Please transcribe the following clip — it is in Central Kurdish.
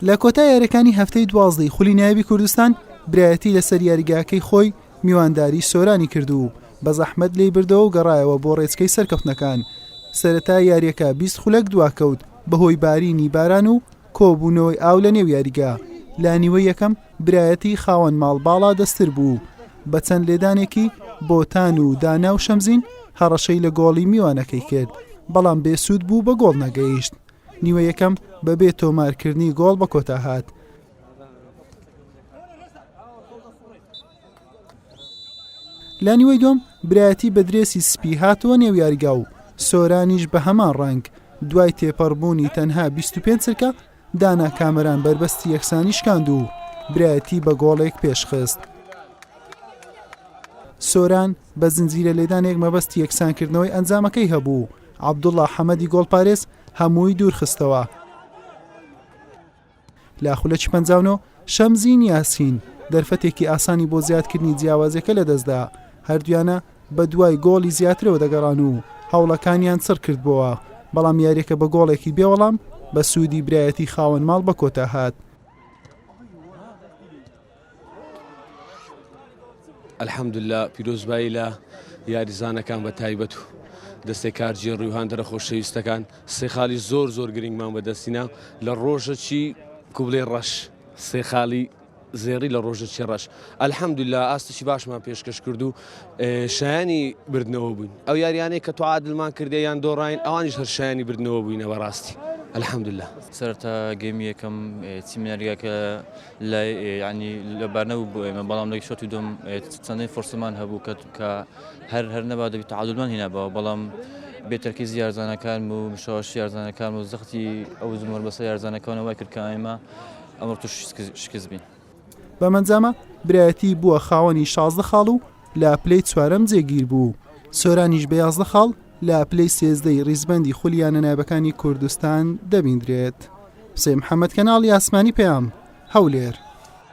لە کۆتا یاریەکانی هەفتەی دوازدەی خولی نایبی کوردستان برایەتی لەسەر یاریگاکەی خۆی میوانداری سۆرانی کرد و بە زەحمەت لی بردەوە و گەڕایەوە بۆ ڕێچکەی سەرکەوتنەکان سەرەتا یاریەکە 20 خولەک دواکەوت بەهۆی بارینی باران و کۆبوونەوەی ئاو لە نێو یاریگا لە نیوە یەکەم برایەتی خاوەن ماڵ باڵا دەستر بوو و بە چەند لێدانێکی بۆتان و دانا و شەمزین هەڕەشەی لە گۆڵی میوانەکەی کرد، بەڵام بێ سوود بوو بە گۆڵ نەگەیشت. نیوە یەکەم بە بێ تۆمارکردنی گۆڵ بە کۆتا هات. لە نیوەی دووەم برایەتی بە درێسی سپی هاتەوە نێو یاریگا و سۆرانیش بە هەمان ڕەنگ، دوای تێپەڕبوونی تەنها 25 چرکە، دانا کامەران بەربەستی یەکسانی شکاند و برایەتی بە گۆڵێک پێشخست. سۆران بە زنجیرە لێدانێک مەبەستی یەکسانکردنەوەی ئەنجامەکەی هەبوو عەبدوڵڵا حەمەدی گۆڵپارێز هەمووی دوورخستەوە لە خولەکی پەنجاونۆ شەمزین یاسین دەرفەتێکی ئاسانی بۆ زیادکردنی جیاوازەکە لەدەستدا هەردویانە بەدوای گۆڵی زیاترەوە دەگەڕان و هەوڵەکانیان چڕکردبۆوە، بەڵام یاریەکە بە گۆڵێکی بێوەڵام بە سوودی برایەتی خاوەن ماڵ بە کۆتا هات. الحمدللە پیرۆزبایی لە یاریزانەکان بە تایبەت و دەستێ کارجیێ ڕویهاندرە خۆشەویستەکان سێ خالی زۆر زۆر گرنگمان بەدەستینا لە ڕۆژەکی کوبلێ ڕەش سێ خالی زێڕی لە ڕۆژە چێڕەش الحمدللە ئاستێکی باشمان پێشکەش کرد و شایانی بردنەوە بووین ئەو یاریانەی کە تو عادلمان کردێ یان دۆڕین ئەوانیش هەر شایانی بردنەوە بووینە بەڕاستی الحمدللە سەرتا گەمی یەکەم چیمنەرگەکە لای ینی لەبارنەبوو بۆ ئێمە بەڵام لەی شۆتی دوم چەندین فرسمان هەبوو کە کە هەر هەر نەبا دەبیت عادلمان هینابەوە بەڵام بێتەرکیز یارزانەکان و مشاوەش یارزانەکان و زەختی ئەو زمۆر بەسە یارزانەکانەوە کرد کە ئێمە ئەمڕۆ تووشی شکست بین. بەم ئەنجامە برایەتی بووە خاوەنی شازدە خاڵ و لە پلەی چوارەم جێگیر بوو. سۆرانیش بە یازدە خاڵ لە پلەی سێزدەی ریزبەندی خولی یانە نایبەکانی کوردستان دەبیندرێت. حوسێن محەممەد کەناڵی ئاسمانی پەیام، هەولێر.